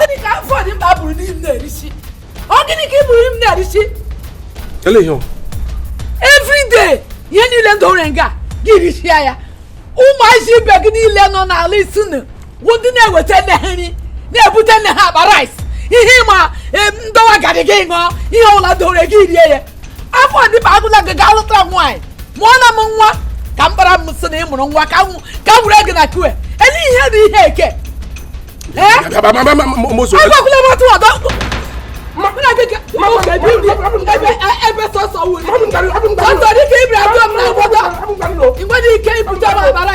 gịnị ka afọ dị mkpa bụrụ n'ime na-erisi ọ gịnị ka ị buru ime na-erisi everyday ihe niile m dore nga gị risia ya ụmụazị ibe gị niile nọ n'ala isi nụ bụ ndị na-eweta nne ha nri na-ebute nne ha akpa rice ihe ị ma m dọwa garri gị ṅụọ ihe ọbụla dore gị rie ya afọ dịba agụla gị gaa lụta nwaanyị mụọ na m nwa ka m kpara m sị na ị mụrụ nwa ka m were gị na kue ele ihe dị ihe eke agwakwụla m otu ọdọ ebe sọsọ wuli sọsọ dịka ibiri abụọ m na agwọdọ i nwere ike ibute m abara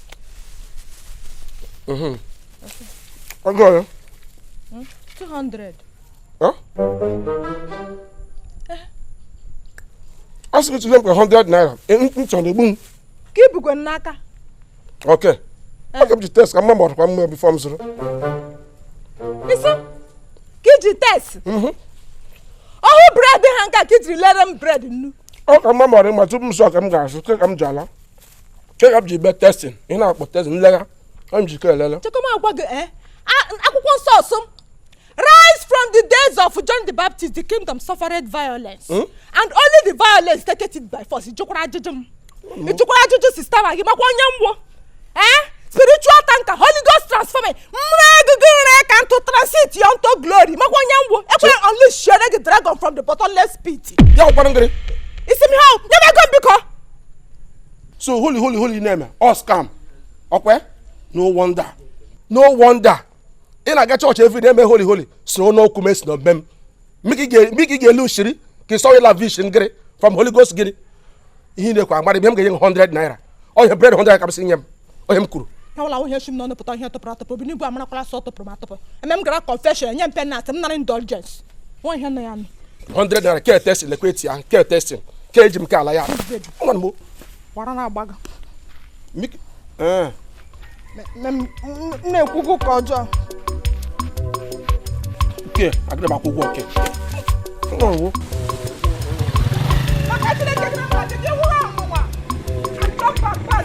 Mhm. ọgụ ọrụ 200 a sị gị tụnye m ka 100 naira e, m m chọrọ igbu m ka i bukwe m n'aka ok ọ ka m ji test ka m ma ma ọ dịkwa mma before m zụrụ ị sị ka i ji test ọhụ bread ha nka ka i jiri lere m bread nnu ọ ka m ma ma ọ dị mma tupu m zụọ ka m ga-azụ ke ka m ji ala check up ji be testing ị na-akpọ testing nlegha ọ njikọ elele chekọma agwa gị eh? akwụkwọ nsọ ọ sị m Right from the days of John the Baptist, the kingdom suffered violence. Hmm? And only the violence take it by force. Ị jụkwara ajụjụ m. Hmm. Ị jụkwara ajụjụ sister ma gị makwa onye m wụ. Eh? Spiritual tanker, Holy Ghost transforming. Mmụọ agụgụ nre ka ntụ transit you unto glory. Makwa onye m wụ. Ekwe unleash the dragon from the bottomless pit. Ya ọkwanụ ngịrị. Isi m ha, nyebe ego m biko. so holy holy holy ị na-eme ọ scam ọkwa no wonder no wonder ị na-aga church every day eme holy holy so n'okwu mesi na obem miki ga-elu shiri ka ịsọ ịla vish ngịrị from holy ghost gịrị ihe na-ekwe agbara ibe m ga-enye 100 naira ọ ihe bread 100 ka m sị nye m ọ ihe m kwuru awala ahụ ihe shi m n'ọnụ pụta ihe tụpụrụ atụpụ obi n'igwe amarakwala sị ọ tụpụrụ m atụpụ eme m gara confession enye m penalty m nara indulgence ọ wụ ihe nọ ya nụ 100 naira ke testing lekwa eti ahụ ke testing ke eji m ke ala ya nwa m gbara na agbaga na-ekwu ụka ọjọọ nke agịrị m akwụ ụgwọ nke nwa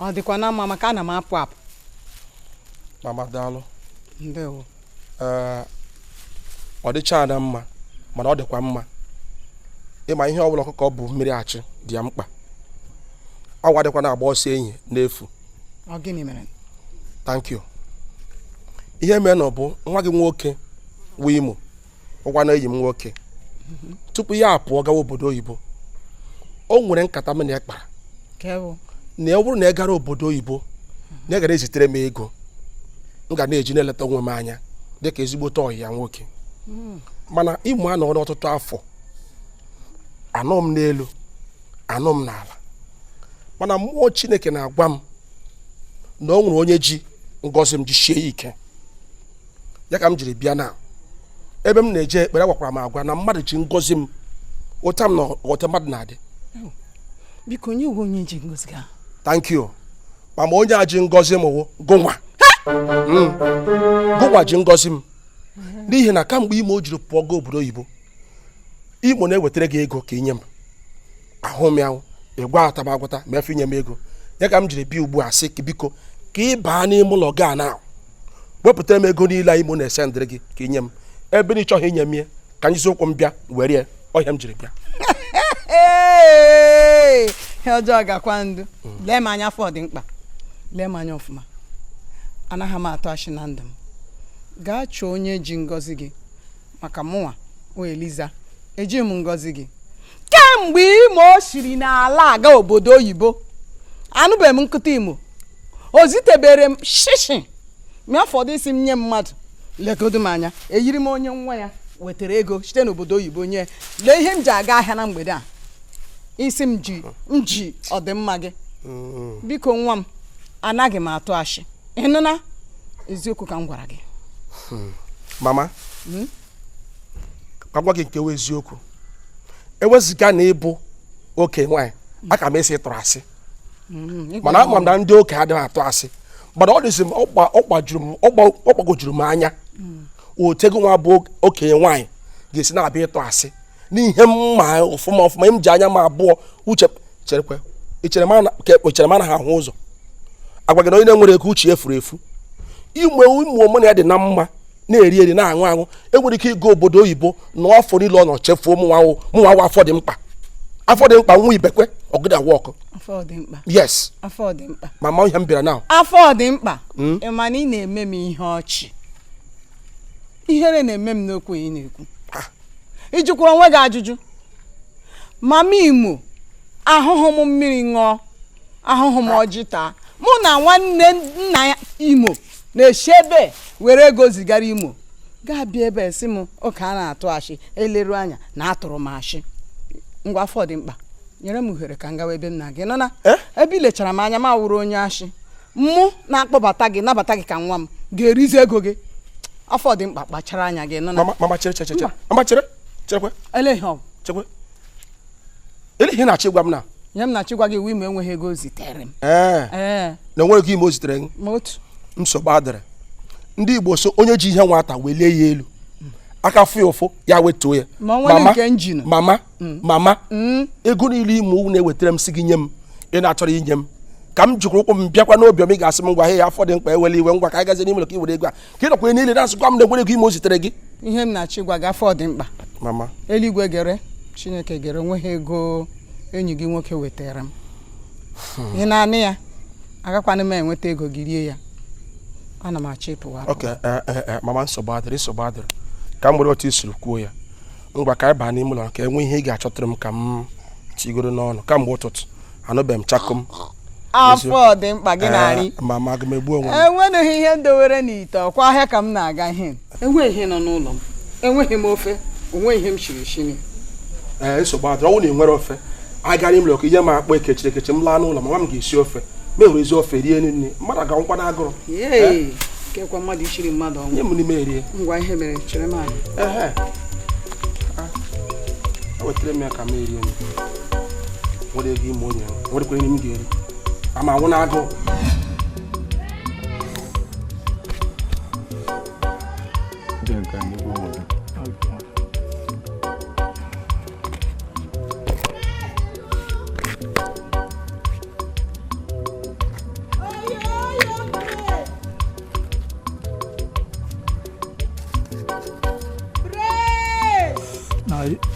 ọ dịkwa na mma maka ana m apụ apụ mama daalụ ndewo ee ọ dịcha ada mma mana ọ dịkwa mma ị ma ihe ọbụla ọkụkọ bu mmiri achụ dị ya mkpa awọ adịkwa na-agba ọsọ ehihie n'efu ọ gịnị mere thank you ihe mere na ọ bụ nwa gị nwoke wụ imo ọ kwa na enyi m nwoke tupu ya apụọ gawa obodo oyibo o nwere nkata m na ya kpara na ya bụrụ na ya gara obodo oyibo na ya gara ezitere m ego m ga na-eji na-eleta onwe m anya dịka ezigbote ọyị ya nwoke hmm. mana imo anọọna ọtụtụ afọ anọ m n'elu anọ m n'ala mana mmụọ chineke na-agwa m na o nwere onye ji ngọzi m jishie ike ya ka m jiri bịa na ebe m na-eje ekpere a gwakwara m agwa na mmadụ ji ngọzi m ụta m na ọta mmadụ na-adị biko onye wụ onye ji ngọzi gị ahụ thank you mama onye a ji ngọzi m wụ gụnwa Mm. gụnwa ji ngọzi m n'ihi na kamgbe imo jiri pụọ gaa obodo oyibo imo na-ewetara gị ego ka i nye m ahụ m ya hụ, ị gwa ataba agwata ma efe inye m ego ya ka m jiri bịa ugbu a sị biko ka ị baa n'ime ụlọ gị a na wepụtara m ego niile a imo na-esendịrị gị ka i nye m ebe na ị chọghị inye m ya ka m jizi ụkwụ m bịa were ya ọ ihe m jiri bịa ihe ọjọọ gakwa ndụ lee m anya afọ dị mkpa lee m anya ọfụma anaghị m atụ ashị na ndụ m gaa chọọ onye ji ngọzi gị maka mụnwa wụ eliza eji m ngọzi gị kemgbe imo siri n'ala a gaa obodo oyibo anụbeghị m nkụta imo o zitebere m shishi ma ya fọdụ ị sị m nye mmadụ legodo m anya eyiri m onye nwa ya wetara ego site n'obodo oyibo nye lee ihe m ji aga ahịa na mgbede a ị sị m ji ọdịmma gị mm. biko nwa m anaghị m atụ ashị ị nụna eziokwu ka m gwara gị hmm. mama hmm? ka m gwa gị nke wụ eziokwu ewezụga na ị bụ okenye nwaanyị hmm. aka m asị ị tụrụ asị mana ama m na ndị okenye adịghị atụ asị but ọ dịzi m ọ gbagojuru m anya otu gụnwa bụ okenye nwaanyị ga-esi na-abịa ịtụ asị n'ihe m ma ọfụma ọfụma m ji anya m abụọ hụchaa i chere m anaghị ahụ ụzọ agwa gị na onye na-enwere ego uche furu efu imo mụ na ya dị na mma na-eri eri na-aṅụ aṅụ enwere ike ịga obodo oyibo na afọ niile ọ nọ chefuo mụnwa wụ mụnwa wụ afọ dị mkpa afọ dị mkpa nwa ibekwe ọgụda awa ọkụ yes afọ dị mkpa mama ihe m bịara na afọ dị mkpa hmm? ị ma na ị na-eme m ihe ọchị ihere na-eme m n'okwu ị na-ekwu ị jụkwara onwe gị ajụjụ mama imo ahụhụ m mmiri ṅụọ ahụhụ m ọjị taa mụ na nwanne nna ya imo na-esi ebe were ego zigara imo gị abịa ebe a sị m okenye na-atụ ashị eleru anya na atụrụ m ashị ngwa afọ dị mkpa nyere m ohere ka m gawa ebe m na-aga ị nụna eh? ebe i lechara m anya m awụrụ onye ashị mụ na-akpọbata gị nabata gị ka nwa m ga-erizi ego gị afọ dị mkpa kpachara anya gị nọ na mama mama chere chere chere mama chere cherekwe ele ihe ọ bụ chekwe ele ihe ị na-achọ ịgwa m na ihe m na-achọ ịgwa gị wụ ime enweghị ego o zitere m ee ee na onwere ego ime o zitere gị ma otu nsogbu adịrị ndị igbo sị onye ji ihe nwata welie ya elu aka fụ ya ụfụ ya wetuo ya Ma o nwere nke njinu. mama mm. mama mm. ego niile ime owu na-ewetara m sị gị nye m ị na-achọrọ inye m ka m jikwa ụkwụ m bịakwa n'obi m ị ga-asị m ngwa ihe ya afọ dị mkpa ewele iwe ngwa ka anyị gazie n'ime ka i were ego a ka ị nakwa niile na-asịkwa m na enwere ego ime o zitere gị ihe m na-achọ ịgwa gị afọ dị mkpa mama eluigwe gere chineke gere onweghị ego enyi gị nwoke wetara m hmm. ị na-anụ ya agakwanụ m enweta ego gị rie ya ana m achọ ịpụwa eh, eh, eh, mama nsogbu adịrị nsogbu adịrị ka m nwere otu isiri kwuo ya ngwa ka anyị baa n'ime ụlọ ka enwe ihe ị ga-achọtara m ka m tigoro n'ọnụ kamgbe ụtụtụ anụbeghị m chakom afọ dị mkpa gị na-arị eh, mama aga m egbu onwe m enweghị ihe m dowere n'ite ọkwa ahịa ka m na-aga ihe enweghị ihe nọ n'ụlọ m enweghị m ofe onweghị ihe m shiri shiri ee eh, nsogbu adịrọ ọ wụ na ị nwere ofe agara imere ọkụ ihe m akpọ ekechiri ekechi m laa n'ụlọ mama m ga-esi ofe ma enwere ezi ofe rie nri nri mmadụ aga anwụkwa n'agụrụ kekwa mmadụ ichiri mmadụ ọnwụ nye m nri m erie ngwa ihe mere chere m anyị ehe ewetara m ya ka m erie m nwere ego ime onye nwerekwa nri m ga-eri ama anwụ n'agụụ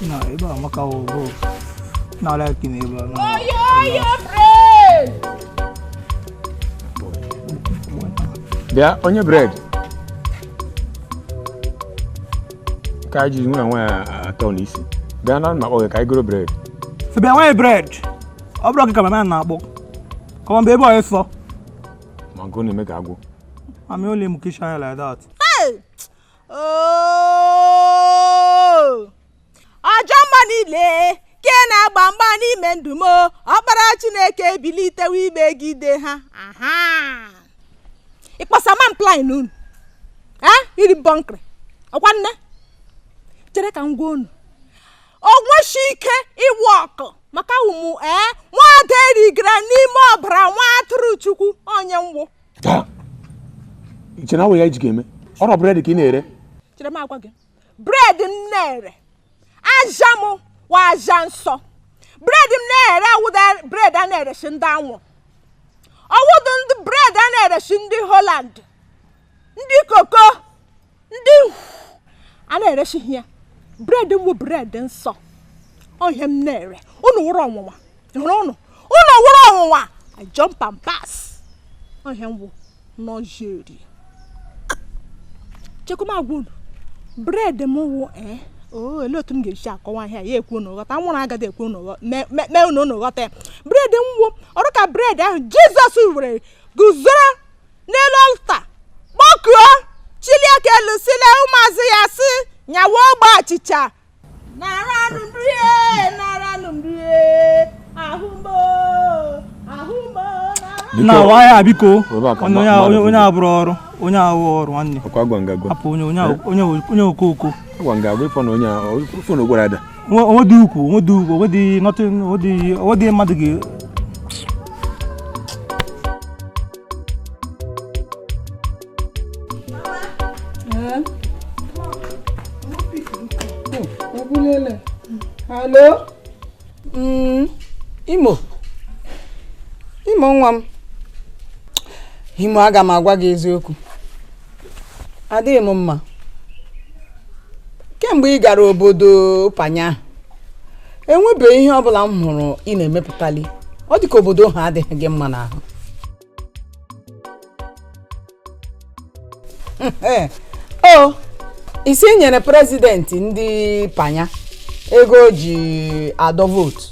na ebe a maka ọgụ n'ala aka na ebe a na bịa onye bread ka anyị jiri nwere nwaanyị atọ n'isi bịa na m na-akpọ gị ka anyị goro bread bịa nwaanyị bread ọ bụrọ gị ka mama na-akpọ come on bịa ebe ọyị sọ ma nke ọ na-eme ka agwụ ami ole mu kishan like that. Hey! Oh! ajọ mmụọ niile ke na-agba mgba n'ime ndụ m ọkpara chineke ebilitewo imegide ha aha ịkposa m plan unu ee iri bọnkịrị ọkwa nne chere ka m gwa unu onweshi ike ịwork maka ụmụ ee nwada erigara n'ime ọbara nwa atụrụ chukwu onye nwụ Taa, iche na awụ ya iji ga-eme ọrụ bread ka ị na-ere chere m agwa gị bred m na-ere aja m wụ aja nsọ bred m na-ere awụdị bred a na-ereshi ndị anwụ ọ wụdị ndị bred a na-ereshi ndị holand ndị koko ndị a na-ereshi ya bred m bụ bred nsọ ọ ihe m na-ere unu wụrụ ọnwụnwa hụrụ unu unu wụrụ ọnwụnwa i jump and pass ọ ihe m wụ n'ọjeri chekwa m agwa unu bred m wụ ee eh, oo oh, olee otu m ga-esi akọwa ihe a ka unu ghọta nwụrụ agadi ekwu na mee unu unu ghọta ya bred m wụ ọ rị ka bred ahụ jizọs were guzoro n'elu ọlta kpọkuo chilie aka elu sile ụmụazụ ya sị nyawa ogbe achịcha na-awa ya biko onye abụrụ ọrụ onye ahụ ọrụ nwanne hapụ onye okooko o nwedị ukwu o nwedị ukwu o nwedị nothing o nwedị mmadụ ga Alo? Mm, Imo. Imo nwa m. Imo aga m agwa gị eziokwu. Adịghị m mma. Kemgbe ị gara obodo Panya ahụ, enwebeghị ihe ọ bụla m hụrụ ị na-emepụtali. Ọ dị ka obodo ha adịghị gị mma n'ahụ. Eh, o ị sị i nyere prezidenti ndị panya ego o ji adọ vootu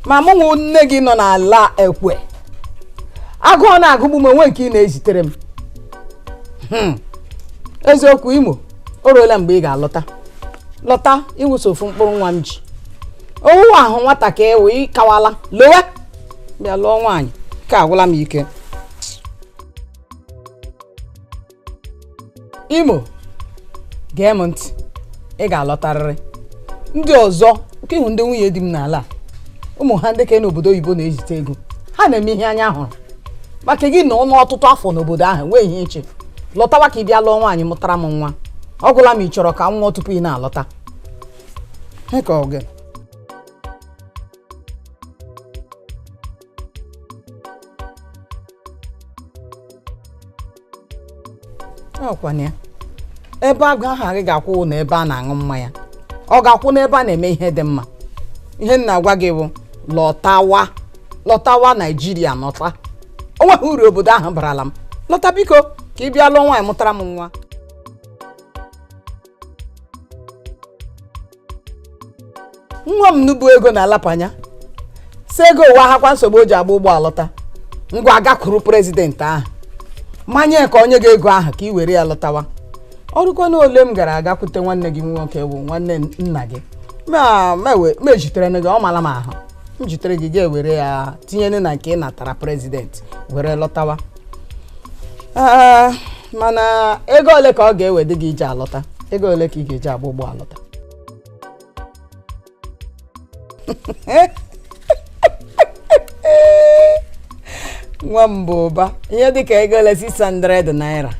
ma mụ wụ nne gị nọ n'ala ekwe agụụ na-agụgbu m o nwe nke ị na-ezitere m Hmm. eziokwu imo o ruola mgbe ị ga-alọta lọta ị wụ sọ ofu mkpụrụ nwa m ji ọ wụwahụ nwata ka ị wụ ị kawala lọwa bịa lụọ nwaanyị ka agwụla m ike imo gee m ntị ị ga-alọtarịrị ndị ọzọ nke ị hụ ndị nwunye di m n'ala a, ụmụ ha ndị ka nọ obodo oyibo na-ezite ego ha na-eme ihe anya hụrụ maka gị na-anọ ọtụtụ afọ n'obodo ahụ nwee ihe iche lọtawa ka ị bịa lụọ nwaanyị mụtara m nwa ọ gwụla m ị chọrọ ka m nwụọ tupu ị na-alọta Heka oge ọkwana ya ebe a ga-ahụ gị ga-akwụ na ebe a na-aṅụ mmanya ọ ga-akwụ n'ebe a na-eme ihe dị mma ihe m na-agwa gị bụ lọtawa lọtawa naijiria lọta o nweghị uru obodo ahụ barala m lọta biko ka ị bịa lụọ nwaanyị mụtara m nwa nwa m na ọ bụ ego na-alapanya sị ego awụhakwa nsogbu o ji agba ụgbọ alọta ngwa agakwuru prezidenti ahụ manye ka o nye gị ego ahụ ka ị were ya lọtawa ọ bụrụkwa na ole m gara agakwute nwanne gị nwoke bụ nwanne nna gị ma ma we- ma ejitere gị ọ mara m ahụ m jitere gị gị ewere ya tinyere na nke ị natara prezidenti were lọtawa Ah, mana ego ole ka ọ ga-ewedị gị iji alọta ego ole ka ị ga-eji agba ụgbọ alọta nwa m bụ ụba ihe dịka ego ole 600 naira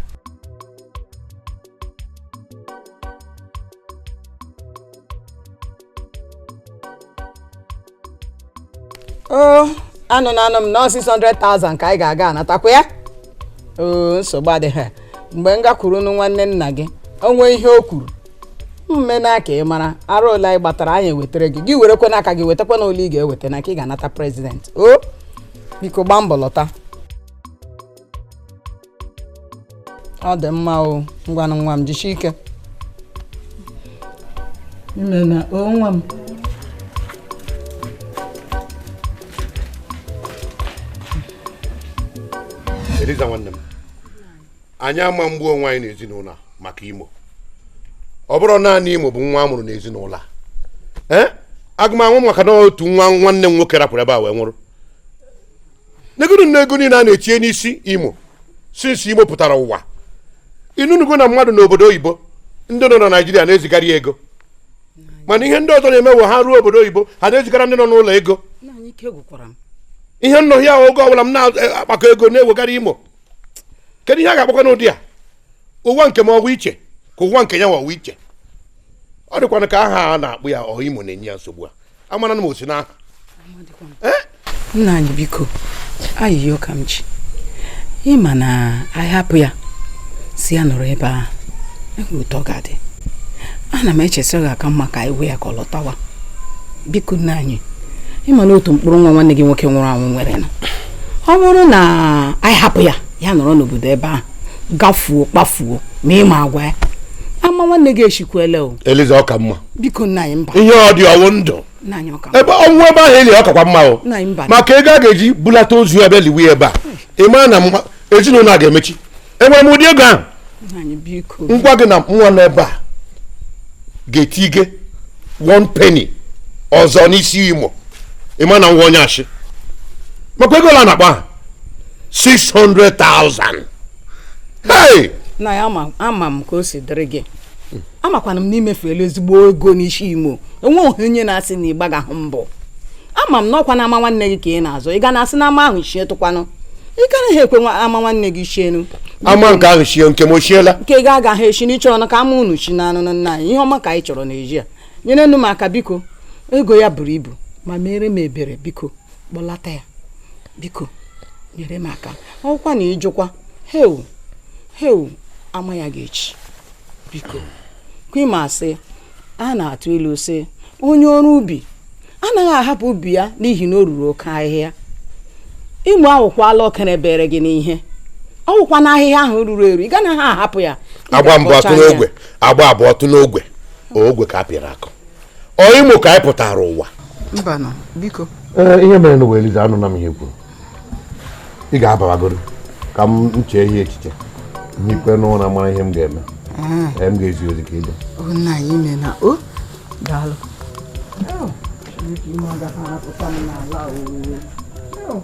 o anụ na anụ m na 600,000 ka anyị ga-aga anatakwa ya oo nsogbu adịghị mgbe m gakwurunụ nwanne nna gị o nwee ihe o kwuru m mee nụ ka ị mara arụ ole anyị gbatara anyị ewetara gị gị werekwa n'aka gị wetakwa na ole ị ga-eweta n'aka ị ga-anata prezidenti o biko gbaa mbọ lọta ọ dị mma o ngwanụ nwa m jisie ike i meena o nwa m Eliza nwanne m anyị ama egbu onwe anyị n'ezinụlọ maka imo ọ bụrụ naanị imo bụ nwa a mụrụ n'ezinụlọ a ee aga m anwụ maka na otu nwa nwanne m nwoke rapụrụ ebe a wee nwụrụ negodunụ ego niile a na-etinye n'isi imo since imo pụtara ụwa ị nụnugo na mmadụ nọ obodo oyibo ndị nọ na naijiria na-ezigara ya ego mana ihe ndị ọzọ na-eme wụ ha ruo obodo oyibo ha na-ezigara ndị nọ n'ụlọ ego ihe m nọ here oge ọbụla m na-akpakọ ego na-ewegara imo kedu ihe a ga-akpọkwanụ ụdị a ụwa nke m ọ wụ iche ka ụwa nke ya nwa ọ wụ iche ọ dịkwanụ ka aha a na-akpọ ya wụ imo na-enye ya nsogbu a amara na m o si n'aha eh? nna anyị biko ayịyọ ka m ji ị ma na anyị hapụ ya sị ya nọrọ ebe ahụ e nwere otu ọ ga-adị ana m eche sị ọ ga-aka mma ka anyị gwa ya ka ọ lọtawa biko nna anyị ị ma na otu mkpụrụ nwa nwanne gị nwoke nwụrụ anwụ nwere na ọ bụrụ na anyị hapụ ya ya nọrọ n'obodo ebe ahụ gafuo kpafuo ma ị ma agwa ya ama nwanne gị echikwele o eliza ọ ka mma biko nna anyị mba ihe ọ dị ọ wụ ndụ nna anyị ọ ka ebe ọ nwụ ebe ahụ e lie ya ọ kakwa mma o nna anyị mba maka ego a ga-eji bulata ozu ya bịa liwe ya ebe a ị mara na mma- ezinụlọ a ga-emechi enwere m ụdị ego ahụ nna anyị biko m gwa gị na nwa nọ ebe a ga-etighị one penny ọzọ n'isi imo ị ma na nwa onye ashị makwa ego ole a na-akpa ha 600,000 hey na ya ama ama m ka o si dịrị gị amakwana m na i mefuola ezigbo ego n'isi imo enweghị onye na-asị na ị gbagahụ mbọ ama m na ọkwa na ama nwanne gị ka ị na-azọ ị ga na-asị na ama ahụ chie tụkwanụ ị ganaghị ekwe nwa ama nwanne gị chienu ama nke ahụ chie nke m o chiela nke gị agaghị echi na ị chọrọ na ka ama unu chie na anụ na nna anyị ihe ọma ka anyị chọrọ n'ezi a nyerenụ m aka biko ego ya buru ibu ma mere m ebere biko kpọlata ya biko nyere m aka ọ wụkwa na ị jụkwa heu heu ama ya ga-echi biko kwa ị ma sị a na-atụ ilu sị onye ọrụ ubi anaghị ahapụ ubi ya n'ihi na o ruru oke ahịhịa imo awụkwala oke rubere gị n'ihe ọ wụkwa na ahịhịa ahụ ruru eru ị ganaghị ahapụ ya a gbaa mbụ ọ tụọ n'ogwe a gbaa abụọ ọ tụọ n'ogwe ogwe ka a pịara akụ ọ imo ka anyị pụtara ụwa mbanụ biko ee ihe merenụ wụ eliza anụna m ihe i kwuru ị ga-abawagodu ka m chee ihe echiche m hikwenụ ụra mara ihe m ga-eme ee m ga-ezi ozi ka ị bịa nna anyị i meena o daalụ Oh.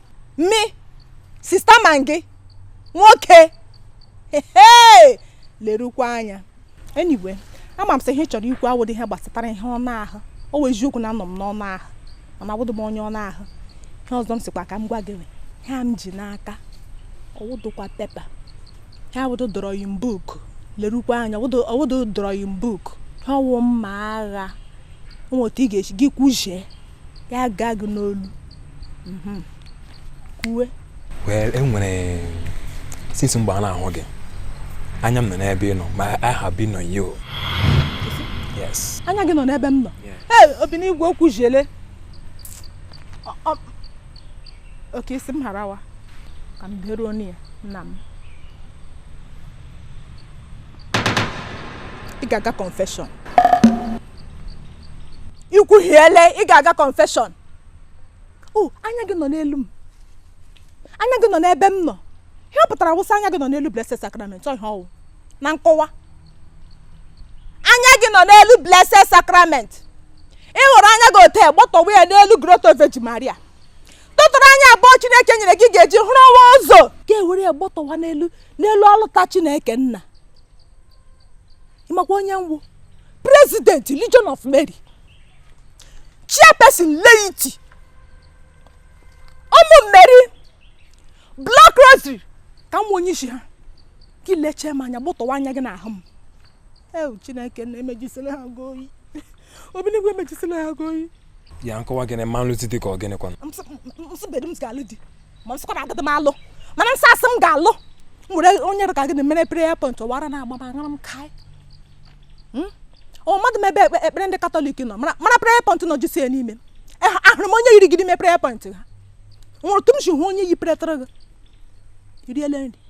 me sister maggi nwoke lerukwa anya anyway ama m sị ihe ị chọrọ ikwu awụdụ ihe gbasatara ihe ọnụ ahụ ọ wụ eziokwu na anọ m n'ọnụ ahụ mana awụdụ m onye ọnụ ahụ ihe ọzọ m sịkwa ka m gwa gị ihe a m ji n'aka ọ wụdụkwa paper ihe a awụdụ drawing book lerukwa anya ọ wụdụ drawing book ihe a wụ mma agha nwee otu ị ga-esi gị kwuzie ya gaa gị n'olu mhm. kwuwe well enwere since mgbe a na-ahụ gị anya m nọ n'ebe ị nọ my eye have been on you yes anya gị nọ n'ebe m nọ ee obinigwe o kwuzile okay ị sị m harawa ka m beruo onye ya nna m ị ga-aga confession ikwuhiele ị ga-aga confession o anya gị nọ n'elu m anya gị nọ n'ebe m nọ ihe ọ pụtara wụ sị anya gị nọ n'elu blessed sacrament ọ ihe ọ wụ na nkọwa anya gị nọ n'elu blessed sacrament i were anya gị ote gbọtọwa ya n'elu grotto Virgin Maria tụtụrụ anya abụọ chineke nyere gị ga-eji hụrụ ụwa ụzọ gị ewere ya gbọtọwa n'elu altar chineke nna ị makwa onye m wụ president legion of mary chairperson laity ụmụ meri block rosary ka m wụ onye isi ha gị lechee m anya gbọtọwa anya gị n'ahụ m eu chineke nna emejisile ha gị oyi obi n'igwe emejisile ha gị oyi ya nkọwa gịnị ma m lụzi di ka ọ gịnị kwana m sịbedu m ga-alụ di ma m sịkwara agadi m alụ mana m sị asị m ga-alụ m were onye ka gị na-emere prayer point ọ wụ ara na-agba m aṅara m kaị hmm? ọ mmadụ m ebe ekpere ndị katọlik nọ mara prayer point nọ jisi ya n'ime ahụrụ m onye yiri gị n'ime prayer point ha nwere otu m si hụ onye yi pere tara gị iriele nri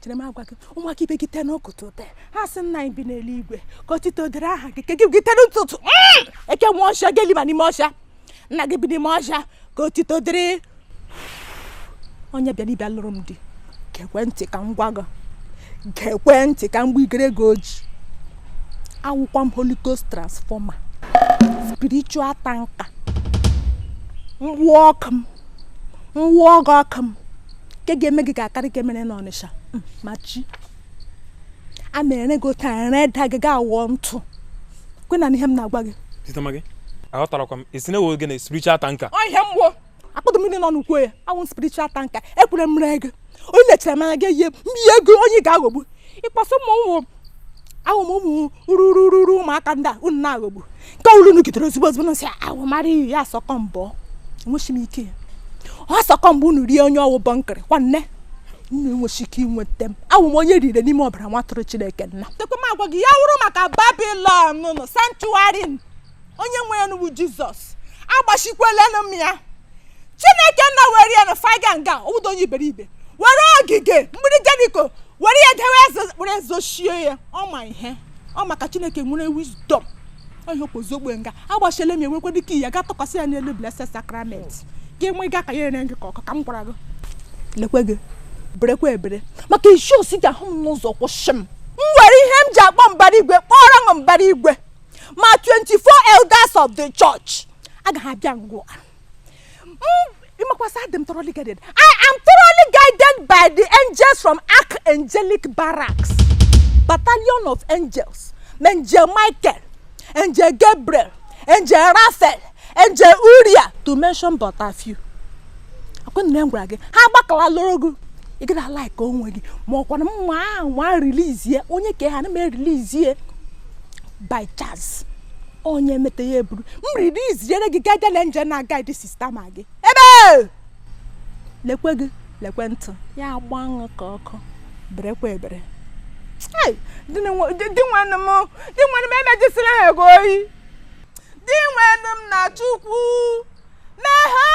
chere m agwa gị ụmụaka ibe gị tee n'ụtụtụ tee ha sị nna anyị bi n'eluigwe ka otito dịrị aha gị ka gị gị tee n'ụtụtụ mm! eke nwe ọsha gị eliba n'ime ọsha nna gị bi n'ime ọsha ka otito dịrị onye bịara ịbịa lụrụ m di gekwe ntị ka m gwa gị gekwe ntị ka m gbigere gị oji awụkwa m holy ghost transformer spiritual tanker m wụọ ọkụ m m wụọ gị ọkụ m nke ga-eme gị ga-akarị ke e mere n'ọnịsha hmm, ma chi a mere gị otu a reda gị ga-awụ ntụ kwe na ihe m na-agwa gị aghọtarakwa m isi na-ewe gị na spiritual tanker ọ ihe mmụọ akpọdụ mmiri nọ n'ukwu ya awụ spiritual tanker ekwere m ree gị onye lechara m anya gị ihe m ihe ego onye ị ga-aghọgbu ị kpọ sị m wụ awụ m ụmụ rurururu ụmụaka ndị a unu na-aghọgbu nke ọbụla unu gidere ozugbo ozugbo unu sị awụ mara iyi ya asọkọ mbọ enwechi m ike ọ sọkọ mbọ unu rie onye ọ wụ bọnkịrị nwanne unu enwechi ike inweta m awụ m onye rire n'ime ọbara nwa atụrụ chineke nna tekwe m agwa gị ya wụrụ maka babilọn nụ sanctuary onye nwe ya n'ugwu jizọs agbachikwelenụ m ya chineke nna were ya na faga nga ụdọ onye iberibe were ogige mgbidi jeriko were ya dewe eze were ezochie ya ọ ma ihe ọ maka chineke nwere wisdom onye okpozi ogbe nga agbachile m ya nwekwa dịka ya ga-atụkwasị ya n'elu blessed sacrament gị nwe gị aka ya ere gị ka ọka ka m gwara gị lekwe gị berekwa ebere maka ị sị ị ga-ahụ m n'ụzọ kwụsị m m were ihe m ji akpọ mbara igwe kpọrọ m mbara igwe ma 24 elders of the church agaghị abịa ngwa ịmakwasị adị m thoroughly guided i am thoroughly guided by the angels from archangelic barracks battalion of angels angel michael angel gabriel angel raphael angel uriah to mention but a few ọkwa m gwara gị ha agbakala lụrụ gị ị gaghị a like onwe gị ma ọkwana mma ahụ ma rilizie onye ka ha na m erilizie by chance onye meta ya eburu m riliziere gị guardian angel na guide sister maggi ebe lekwe gị lekwe ntụ ya agba aṅụ ka ọkụ berekwa ebere dinwenụ m emejisila ha ego oyi dinwenụ m na chukwu meghe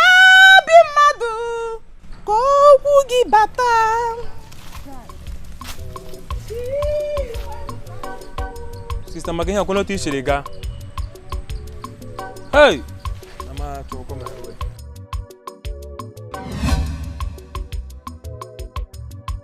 obi mmadụ ka okwu gị bata sister maggi ekwula otu i siri gaa hey